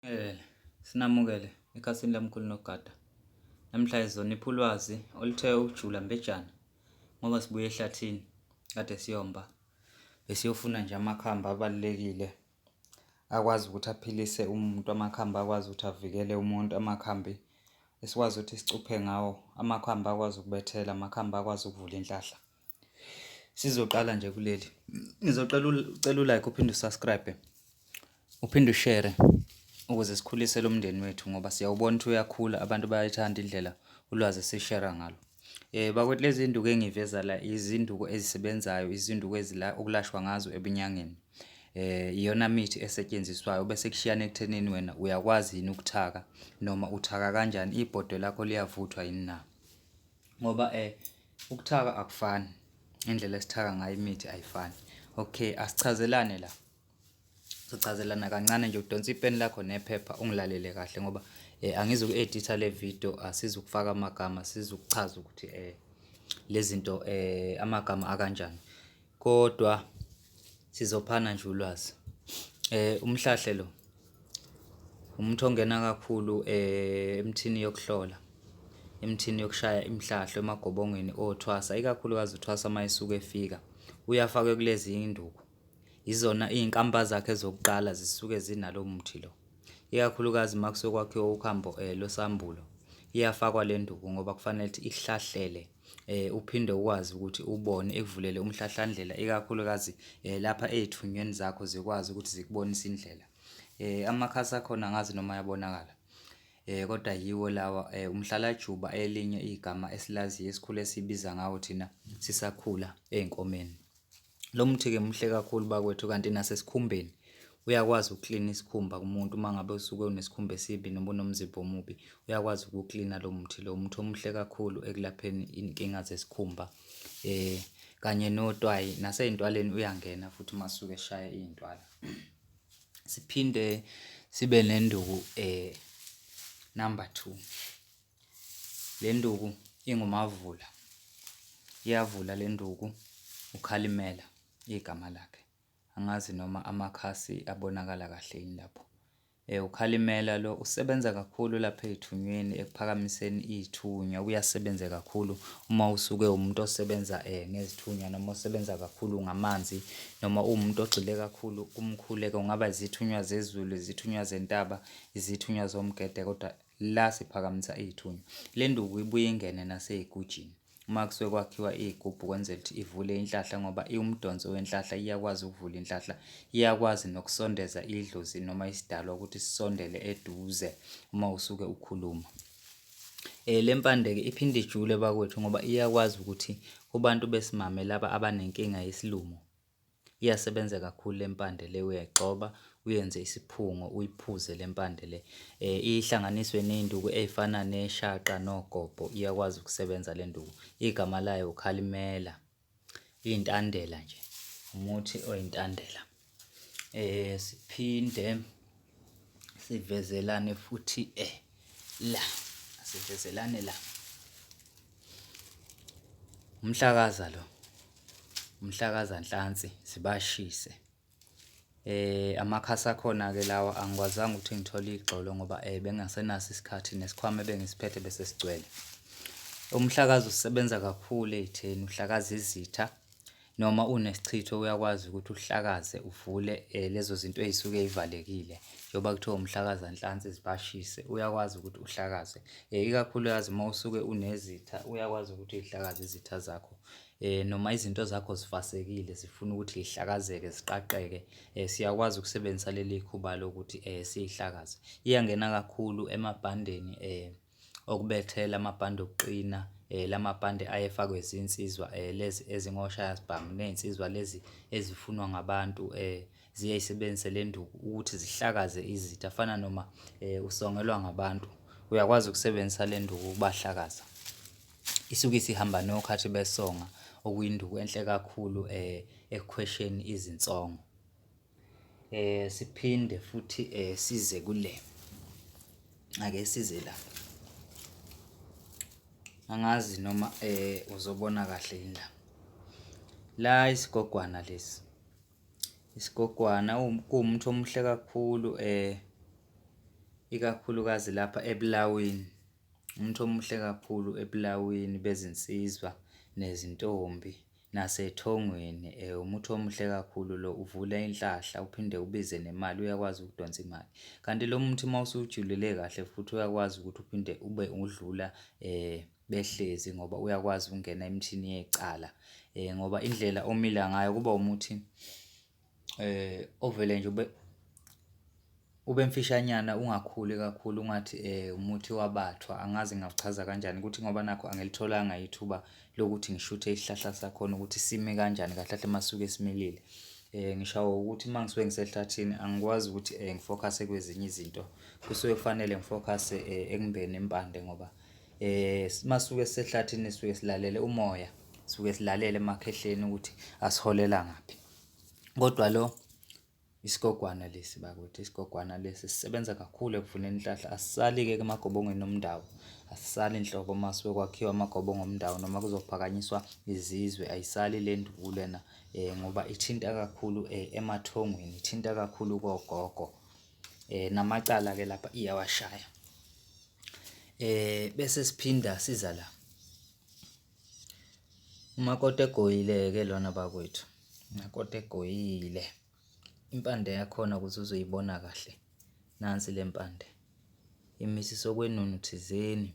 Sinamukele, sinamukele ekhasini lamkhulu nogada. Namhla izonipha ulwazi oluthe ukujula mbejana ngoba sibuye ehlathini kade siyomba. Besiyofuna nje amakhambi abalulekile akwazi ukuthi aphilise umuntu, amakhambi akwazi ukuthi avikele umuntu, amakhambi esikwazi ukuthi sicuphe ngawo, amakhambi akwazi ukubethela, amakhambi akwazi ukuvula inhlahla. Sizoqala nje kuleli. Ngizocela ucela ulike uphinde usubscribe. Uphinde ushare ukuze sikhulise lo mndeni wethu ngoba siyawubona ukuthi uyakhula abantu bayayithanda indlela ulwazi esishera ngalo. Eh bakwethu lezi zinduku engiveza la izinduku ezisebenzayo, izinduku ezila okulashwa ngazo ebunyangeni. Eh iyona mithi esetshenziswayo bese kushiyana ekuthenini wena uyakwazi yini ukuthaka noma uthaka kanjani ibhodwe lakho liyavuthwa yini na. Ngoba eh Ukuthaka akufani, indlela esithaka ngayo imithi ayifani. Okay, asichazelane la. Sichazelana kancane nje udonsa ipeni lakho nephepha ungilalele kahle ngoba eh angizuku-editha le video asizukufaka amagama sizukuchaza ukuthi eh lezinto eh amagama akanjani. Kodwa sizophana nje ulwazi eh umhlahle lo umuntu ongena kakhulu eh emthini yokuhlola emthini yokushaya imhlahlo emagobongweni othwasa ikakhulukazi uthwasa mayisuka efika uyafakwe kulezi induku izona izinkampa zakhe zokuqala zisuke zinalo muthi lo ikakhulukazi makusokwakhiwa ukhambo eh losambulo iyafakwa le nduku ngoba kufanele ukuthi ihlahlele eh, uphinde ukwazi ukuthi ubone ekuvulele umhlahlandlela ikakhulukazi eh, lapha ezithunyweni zakho zikwazi ukuthi zikubonise indlela eh, amakhasi akhona ngazi noma yabonakala eh kodwa yiwo lawa eh, umhlalajuba elinye igama esilaziyo esikhule sibiza ngawo thina sisakhula ezinkomeni Lo muthi-ke muhle kakhulu bakwethu kanti nasesikhumbeni uyakwazi ukuklina isikhumba kumuntu uma ngabe usuke unesikhumba esibi noma unomzimba omubi uyakwazi ukuklina lo muthi lo muthi omuhle kakhulu ekulapheni inkinga zesikhumba eh kanye notwayi naseyintwaleni uyangena futhi uma suke eshaya iyintwala siphinde sibe nenduku eh number 2 Le nduku ingumavula, iyavula le nduku, uKhalimela igama lakhe. Angazi noma amakhasi abonakala kahle yini lapho. Eh, uKhalimela lo usebenza kakhulu lapha ey'thunyweni ekuphakamiseni iy'thunywa, ubuye asebenze kakhulu uma usuke uwumuntu osebenza eh, ngezithunywa noma osebenza kakhulu ngamanzi noma uwumuntu ogxile kakhulu kumkhuleko, kungaba izithunywa zezulu, izithunywa zentaba, izithunywa zomgede kodwa La siphakamisa ithunya. Le nduku ibuye ingene naseyigujini. Uma kusuke kwakhiwa iy'gubhu kwenzela ukuthi ivule inhlahla ngoba iwumdonso wenhlahla iyakwazi ukuvula inhlahla, iyakwazi nokusondeza idlozi noma isidalwa ukuthi sisondele eduze uma usuke ukhuluma. Eh le mpande-ke iphinde ijule bakwethu ngoba iyakwazi ukuthi kubantu besimame laba abanenkinga yesilumo, Iyasebenza kakhulu le mpande le uyayigxoba uyenze isiphungo uyiphuze le mpande le um ihlanganiswe ney'nduku ey'fana neshaqa nogobho iyakwazi ukusebenza le nduku igama layo ukhalimela iy'ntandela nje umuthi oyintandela um siphinde sivezelane futhi eh la sivezelane la umhlakaza lo umhlakaza nhlansi sibashise eh amakhasi akhona ke lawa angikwazanga ukuthi ngithole igxolo ngoba eh bengasenaso isikhathi nesikhwama bengisiphethe bese sigcwele umhlakazi usebenza kakhulu ezitheni uhlakaza izitha noma unesichitho uyakwazi ukuthi uhlakaze uvule eh, lezo zinto ey'suke y'valekile njengoba kuthiwa umhlakaza nhlansi zibashise uyakwazi ukuthi uhlakaze um ikakhulukazi uma usuke unezitha uyakwazi ukuthi y'hlakaze izitha zakho eh noma izinto zakho zifasekile zifuna ukuthi zihlakazeke ziqaqeke eh siyakwazi ukusebenzisa leli khuba lokuthi eh sihlakaze iyangena kakhulu emabhandeni eh okubethela amabhande okuqina um la mabhande ayefakwe zinsizwa um lezi ezingoshayasibhamu ney'nsizwa lezi ezifunwa ngabantu um ziye zisebenzise le nduku ukuthi zihlakaze izitha afana noma um usongelwa ngabantu uyakwazi ukusebenzisa le nduku ukubahlakaza isuke isihamba nokhathi besonga okuyinduku enhle kakhulu um ekukhwesheni izinsongo. eh siphinde futhi eh size kule ake size la angazi noma eh uzobona kahle yini la la isigogwana lesi isigogwana kuwumuntu omuhle kakhulu eh ikakhulukazi lapha ebulawini umuntu omuhle kakhulu ebulawini bezinsizwa nezintombi nasethongweni eh, umuthi omuhle kakhulu lo uvula inhlahla uphinde ubize nemali uyakwazi ukudonsa imali kanti lo muthi uma usujulele kahle futhi uyakwazi ukuthi uphinde ube udlula eh behlezi ngoba uyakwazi ukungena emthini yecala eh ngoba indlela omila ngayo kuba umuthi Ovele nje ube, ube mfishanyana ungakhuli kakhulu ungathi umuthi wabathwa, angazi ngingawuchaza kanjani ukuthi ngoba nakhu angilitholanga ithuba lokuthi ngishuthe isihlahla sakhona ukuthi sime kanjani kahle kahle masuke similile. Ngishawa ukuthi uma ngisuke ngisehlathini angikwazi ukuthi ngifokhase kwezinye izinto, kusuke kufanele ngifokhase ekubeni impande ngoba. eh masuke sehlathini suke silalele umoya suke silalele emakhehleni ukuthi asiholela ngaphi kodwa lo isigogwana lesi bakwethu isigogwana lesi sisebenza kakhulu ekuvuneni inhlahla asisali-ke emagobongweni omndawo asisali nhlobo uma suke kwakhiwa amagobongo omndawo noma kuzophakanyiswa izizwe ayisali le nduku lena um ngoba ithinta kakhulu um emathongweni ithinta kakhulu kogogo um namacala-ke lapha iyawashaya eh bese siphinda siza la umakoti egoyile ke lona bakwethu umakoti egoyile impande yakhona ukuthi uzoyibona kahle nansi lempande imisi sokwenunu thizeni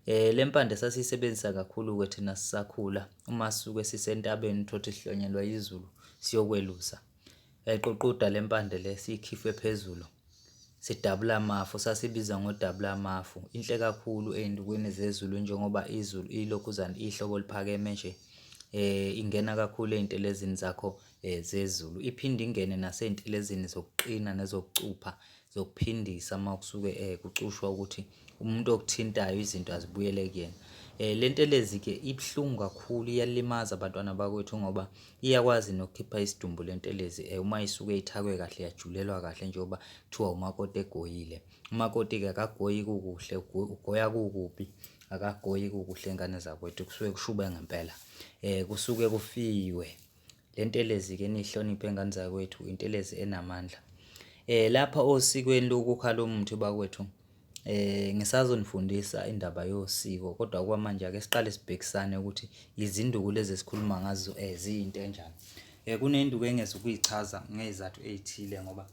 Eh lempande sasiyisebenzisa kakhulu ke thina sisakhula uma sisuke sisentabeni uthothe sihlonyelwa izulu siyokwelusa. Yayiququda le mpande le siyikhiphe phezulu, sidabule amafu, sasibiza ngodabula amafu. Inhle kakhulu ey'ntukwini zezulu njengoba izulu ilokhuzane ihlobo oluphakeme nje, ingena kakhulu ey'ntelezini zakho zezulu. Iphinde ingene nasey'ntelezini zokuqina nezokucupha zokuphindisa uma kusuke eh, kucushwa ukuthi umuntu okuthintayo izinto azibuyele kuyena eh le ntelezi ke ibuhlungu kakhulu iyalimaza abantwana bakwethu ngoba iyakwazi nokukhipha isidumbu le ntelezi eh uma isuke ithakwe kahle yajulelwa kahle njengoba kuthiwa umakoti egoyile umakoti ke akagoyi kukuhle ugoya kukubi akagoyi kukuhle ingane zakwethu kusuke kushuba ngempela eh kusuke kufiwe Le ntelezi ke nihloniphe ngane zakwethu intelezi enamandla eh lapha osikweni lokukha lo muthi bakwethu eh ngisazonifundisa indaba yosiko kodwa kwamanje ake siqale sibhekisane ukuthi izinduku lezi esikhuluma ngazo eh ziyinto enjani eh kunenduku engeza ukuyichaza ngezathu ezithile ngoba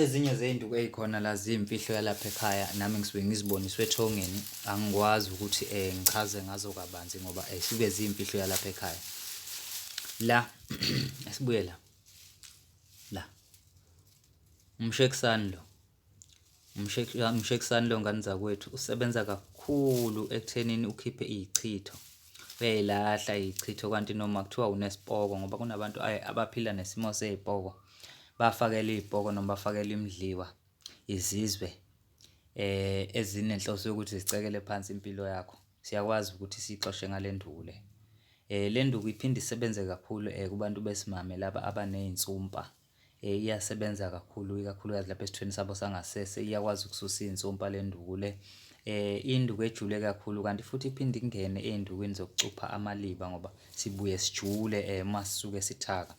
ezinye zey'nduku ey'khona la ziyimfihlo yalapha ekhaya nami ngisuke ngiziboniswe ethongeni angikwazi ukuthi um ngichaze ngazo kabanzi ngoba um suke ziyimfihlo yalapha ekhaya la esibuye la la umshekisani lo Umshekisani lo ngane zakwethu usebenza kakhulu ekuthenini ukhiphe iy'chitho uyayilahla iy'chitho kanti noma kuthiwa unesipoko ngoba kunabantu abaphila nesimo sey'poko bafakela iy'poko noma bafakela imidliwa izizwe eh ezinenhloso yokuthi zicekele phansi impilo yakho siyakwazi ukuthi sixoshe ngale nduku le eh le nduku iphinde isebenze kakhulu eh kubantu besimame laba abaney'nsumpa. Eh, iyasebenza kakhulu ikakhulukazi lapha esithweni sabo sangasese iyakwazi ukususa iy'nsumpa le nduku le eh induku ejule kakhulu kanti futhi iphinde ingene ey'ndukwini zokucupha amaliba ngoba sibuye sijule eh uma sisuke sithaka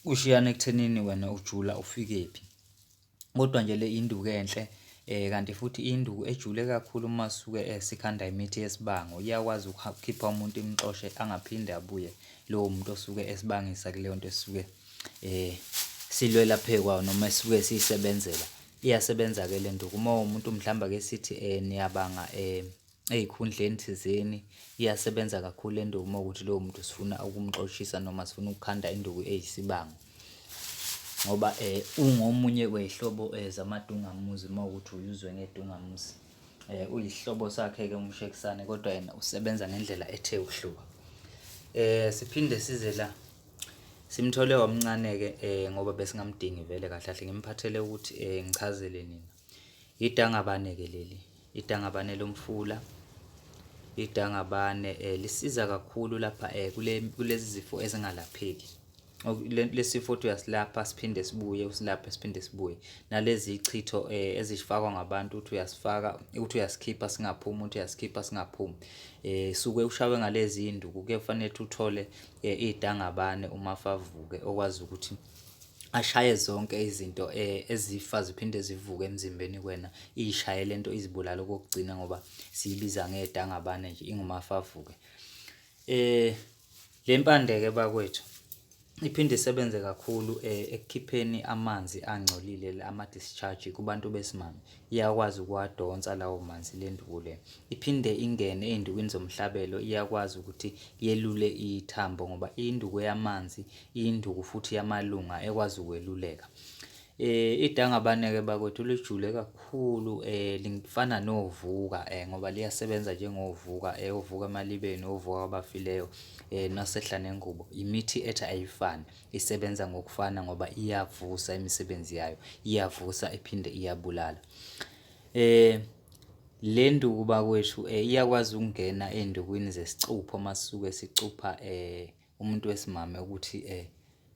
kushiyana ekuthenini wena ujula ufikephi Kodwa nje le induku enhle eh kanti futhi induku ejule kakhulu uma suke eh, sikhanda imithi yesibango iyakwazi ukukhipha umuntu imxoshe angaphinde abuye lowo muntu osuke esibangisa kuleyo nto esuke eh silwela phekwa noma esuke siyisebenzela iyasebenza ke le nduku uma umuntu mhlawumbe ake sithi eh niyabanga eh ey'khundleni thizeni iyasebenza kakhulu le nduku uma ukuthi lowo muntu sifuna ukumxoshisa noma sifuna ukukhanda induku eyisibango ngoba eh ungomunye wehlobo eh, zamadungamuzi uma ukuthi uyuzwe ngedungamuzi eh uyihlobo sakhe ke umshekisane kodwa yena usebenza ngendlela ethe uhluka eh siphinde size la simthole wamncane ke eh ngoba besingamdingi vele kahle kahle ngimphathele ukuthi eh ngichazele nina idangabane ke leli Idangabane lomfula idangabane eh, lisiza kakhulu lapha eh, kule, kulezi zifo ezingalapheki lesifo uthi uyasilapha siphinde sibuye usilaphe siphinde sibuye nalezi ichitho eh, ezifakwa ngabantu uthi uyasifaka uthi uyasikhipha singaphumi uthi uyasikhipha singaphumi eh suke ushawe ngalezi induku kufanele uthole eh, idangabane uma favuke okwazi ukuthi ashaye zonke izinto eh, ezifa ziphinde zivuke emzimbeni kwena iyishaye lento izibulala okokugcina ngoba siyibiza ngedangabane nje ingumafavuke eh le mpande ke bakwethu iphinde isebenze kakhulu eh, ekukhipheni amanzi angcolile ama discharge kubantu besimame iyakwazi ukuwadonsa lawo manzi lenduku le iphinde ingene ezindukwini zomhlabelo iyakwazi ukuthi yelule ithambo ngoba induku yamanzi induku futhi yamalunga ekwazi ukweluleka eh idangabaneke bakwethu lijule kakhulu eh lingifana novuka eh ngoba liyasebenza njengovuka eh uvuka emalibeni uvuka kwabafileyo eh nasehla nengubo imithi ethi ayifani isebenza ngokufana ngoba iyavusa imisebenzi yayo iyavusa iphinde iyabulala eh le nduku bakwethu eh iyakwazi ukungena endukwini zesicupho masuke sicupha eh umuntu wesimame ukuthi eh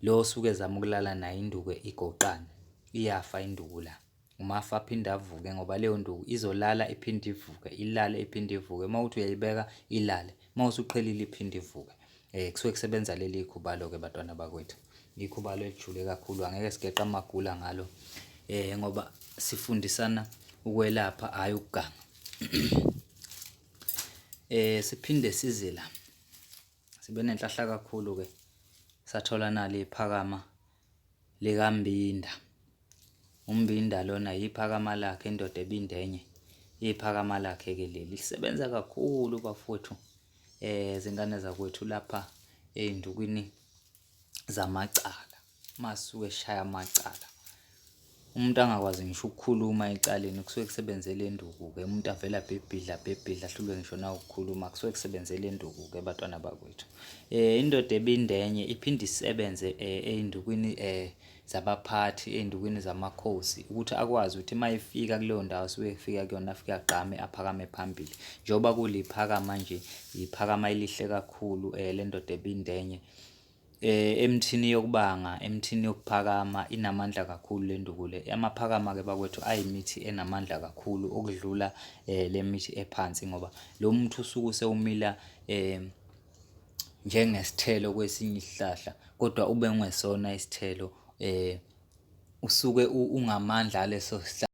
lo osuke ezama ukulala naye induku igoqane iyafa induku la uma afa aphinde avuke ngoba leyo nduku izolala iphinde ivuke ilale iphinde ivuke uma uthi uyayibeka ilale uma usuqhelile iphinde ivuke eh kusuke kusebenza leli khubalo ke batwana bakwethu ikhubalo elijule kakhulu angeke sigeqa amagula ngalo eh ngoba sifundisana ukwelapha hayi ukuganga eh siphinde size la sibe nenhlahla kakhulu ke sathola nali iphakama likambinda umbinda lona yiphakama lakhe indoda ebindenye iphakama lakhe ke leli lisebenza kakhulu bafowethu eh zingane zakwethu lapha ezindukwini zamacala masuke eshaya amacala umuntu angakwazi ngisho ukukhuluma ecaleni kusuke kusebenze le nduku-ke umuntu avele abhibhidla abhibhidla ahlulwe ngisho nawukukhuluma kusuke kusebenze le nduku-ke batwana bakwethu um indoda ebindenye iphinde isebenze um eh, ey'ndukwini um eh, zabaphathi ey'ndukwini zamakhosi ukuthi akwazi ukuthi uma efika kuleyo ndawo suke efika kuyona afike agqame aphakame phambili njengoba kuliphakama nje yiphakama elihle kakhulu um lendoda ebindenye eh emthini yokubanga emthini yokuphakama inamandla kakhulu le nduku le amaphakama ke bakwethu ayimithi enamandla kakhulu okudlula eh le mithi ephansi ngoba lo muthi usuke usewumila eh njengesithelo kwesinye isihlahla kodwa ube ungesona isithelo eh usuke ungamandla aleso sihlahla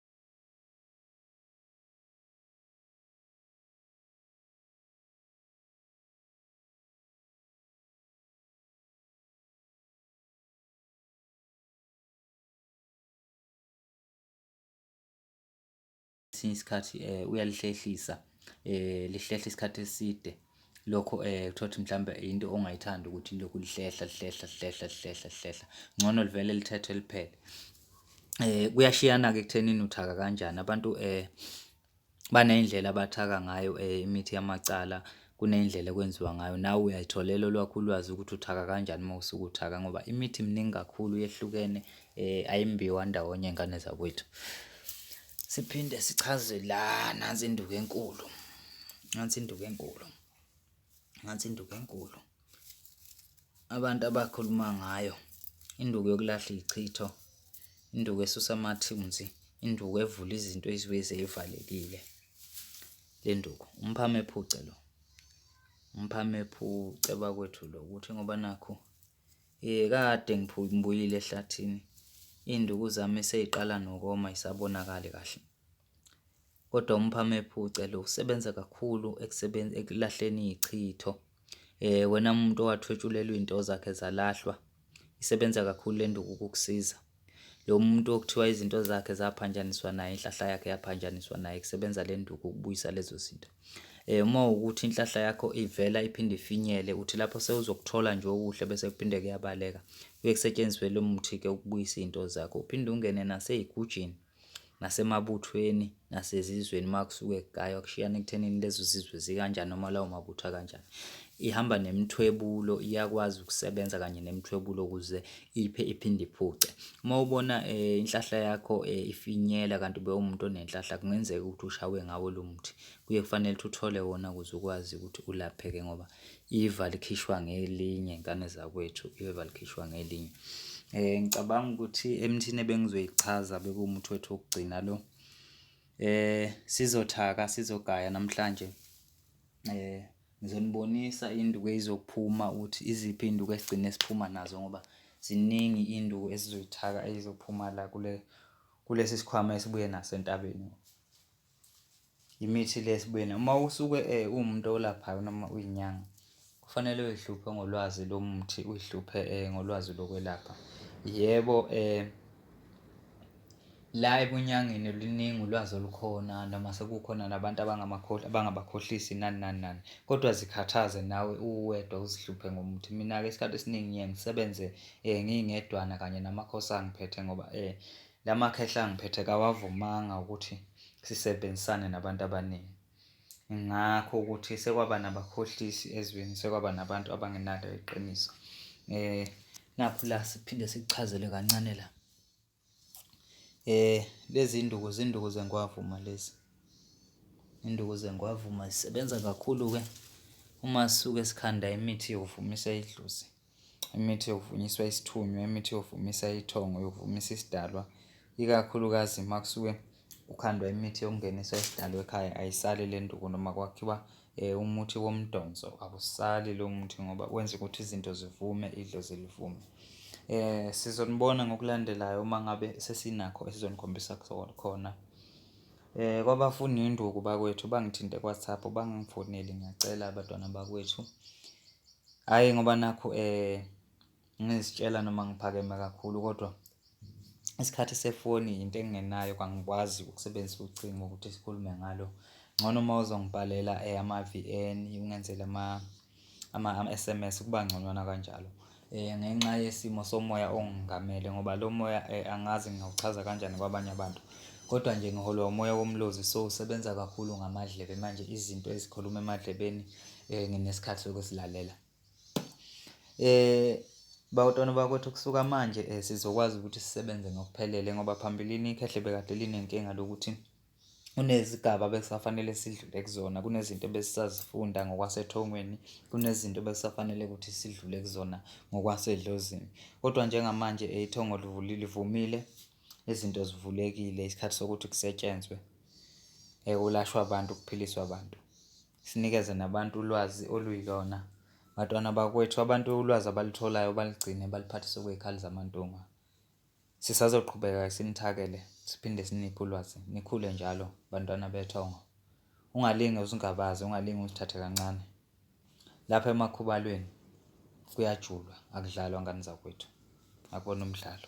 kwesinye isikhathi eh, uyalihlehlisa eh, lihlehla isikhathi eside lokho eh kuthiwa ukuthi mhlawumbe into ongayithandi ukuthi lokhu lihlehla lihlehla lihlehla lihlehla lihlehla ngcono livele lithethe liphele eh kuyashiyana ke kuthenini uthaka kanjani abantu eh baneyindlela abathaka ngayo eh imithi yamacala kuneyindlela ekwenziwa ngayo nawe uyayitholela olwakho ulwazi ukuthi uthaka kanjani uma usuke uthaka ngoba imithi miningi kakhulu yehlukene eh ayimbiwa ndawonye ingane zakwethu Siphinde sichaze la nansi induku enkulu. Nansi induku enkulu. Nansi induku enkulu. Abantu abakhuluma ngayo induku yokulahla ichitho, induku esusa amathunzi, induku evula izinto ezibuye seyivalekile. Le nduku umphame ephuce lo. Umphame ephuce bakwethu lo ukuthi ngoba nakho Yee kade ngibuyile ehlathini iy'nduku zami sey'qala nokoma y'sabonakali kahle. Kodwa umphame ephuce lo usebenza kakhulu ekulahleni iy'chitho. Wena muntu owathwetshulelwa iy'nto zakhe zalahlwa isebenza kakhulu le nduku ukukusiza. Lo muntu okuthiwa izinto zakhe zaphanjaniswa naye, inhlahla yakhe yaphanjaniswa naye, kusebenza le nduku ukubuyisa lezo zinto. Um uma ukuthi inhlahla yakho ivela iphinde ifinyele, uthi lapho sewuzokuthola nje okuhle bese kuphinde kuyabaleka, kuye kusetshenziswe lo muthi-ke ukubuyisa izinto zakho, uphinde ungene nasey'gujini. nasemabuthweni nasezizweni uma kusuke kugaywa kushiyana ekuthenini lezo zizwe zikanjani noma lawo mabutho akanjani. Ihamba nemithwebulo iyakwazi ukusebenza kanye nemithwebulo ukuze iphe iphinde iphuce. Uma ubona eh, inhlahla yakho eh, ifinyela kanti ube umuntu onenhlahla kungenzeka ukuthi ushawe ngawo lo muthi. Kuye kufanele ukuthi uthole wona ukuze ukwazi ukuthi ulapheke ngoba iva likhishwa ngelinye ngane zakwethu iva likhishwa ngelinye eh ngicabanga ukuthi emthini ebengizoyichaza bekuwumuthi wethu wokugcina lo eh sizothaka sizogaya namhlanje eh ngizonibonisa induku ezizophuma ukuthi iziphi induku esigcine siphuma nazo ngoba ziningi induku esizoyithaka ezizophuma la kule kulesi sikhwama esibuye nasentabeni Imithi le sibuyena uma usuke uwumuntu olaphayo noma uyinyanga kufanele uyihluphe ngolwazi lomuthi uyihluphe ngolwazi lokwelapha. Yebo la ebunyangeni luningi ulwazi olukhona noma sekukhona nabantu abangabakhohlisi nani nani nani, kodwa zikhathaze nawe uwedwa uzihluphe ngomuthi. Mina-ke isikhathi esiningi ngiye ngisebenze ngingedwana kanye namakhosi angiphethe ngoba La makhehla angiphethe kawavumanga ukuthi sisebenzisane nabantu abaningi. Ngakho ukuthi sekwaba nabakhohlisi ezweni, sekwaba nabantu abangenalo iqiniso. Eh nakho la siphinde sikuchazele kancane la. Eh lezi induku zinduku zengwavuma lezi. Induku zengwavuma zisebenza kakhulu ke uma sisuke sikhanda imithi yokuvumisa idlozi. imithi yokuvunyiswa isithunywa imithi yokuvumisa ithongo yokuvumisa isidalwa ikakhulukazi uma kusuke kukhandwa imithi yokungenisa isidalwa ekhaya ayisali le nduku noma kwakhiwa um umuthi womdonso awusali lowo muthi ngoba wenza ukuthi izinto zivume idlozi livume. Um sizonibona ngokulandelayo uma ngabe sesinakho esizonikhombisa khona. Um kwabafuna induku bakwethu bangithinte kwaThaphu bangifonele ngiyacela abantwana bakwethu. Hhayi ngoba nakhu ngizitshela noma ngiphakeme kakhulu kodwa isikhathi sefoni yinto engingenayo kangikwazi ukusebenzisa ucingo ukuthi sikhulume ngalo. Ngcono uma uzongibhalela ama-V_N ungenzele ama-S_M_S kuba ngconywana kanjalo ngenxa yesimo somoya ongamele ngoba lo moya angazi ngingawuchaza kanjani kwabanye abantu. Kodwa nje ngiholwa umoya woMlozi so usebenza kakhulu ngamadlebe manje izinto ezikhuluma emadlebeni. eh nginesikhathi sokusilalela eh bawutwana bakwethu kusuka manje eh, sizokwazi ukuthi sisebenze ngokuphelele ngoba phambilini ikhehle bekade linenkinga lokuthi kunezigaba bekusafanele sidlule kuzona kunezinto ebesisazifunda ngokwasethongweni kunezinto bekusafanele ukuthi sidlule kuzona ngokwasedlozini kodwa njengamanje eh, ithongo livulile livumile izinto zivulekile isikhathi sokuthi kusetshenzwe ekulashwa abantu kuphiliswa abantu Sinikeze nabantu ulwazi oluyilona. Bantwana bakwethu, abantu ulwazi abalutholayo balugcine baliphathise kwizikhali zamantunga. Sisazoqhubeka sinithakele siphinde siniphe ulwazi. Nikhule njalo bantwana bethongo. Ungalinge uzingabaze, ungalinge uzithathe kancane. Lapha emakhubalweni kuyajulwa, akudlalwa ngane zakwethu. Akubona umdlalo.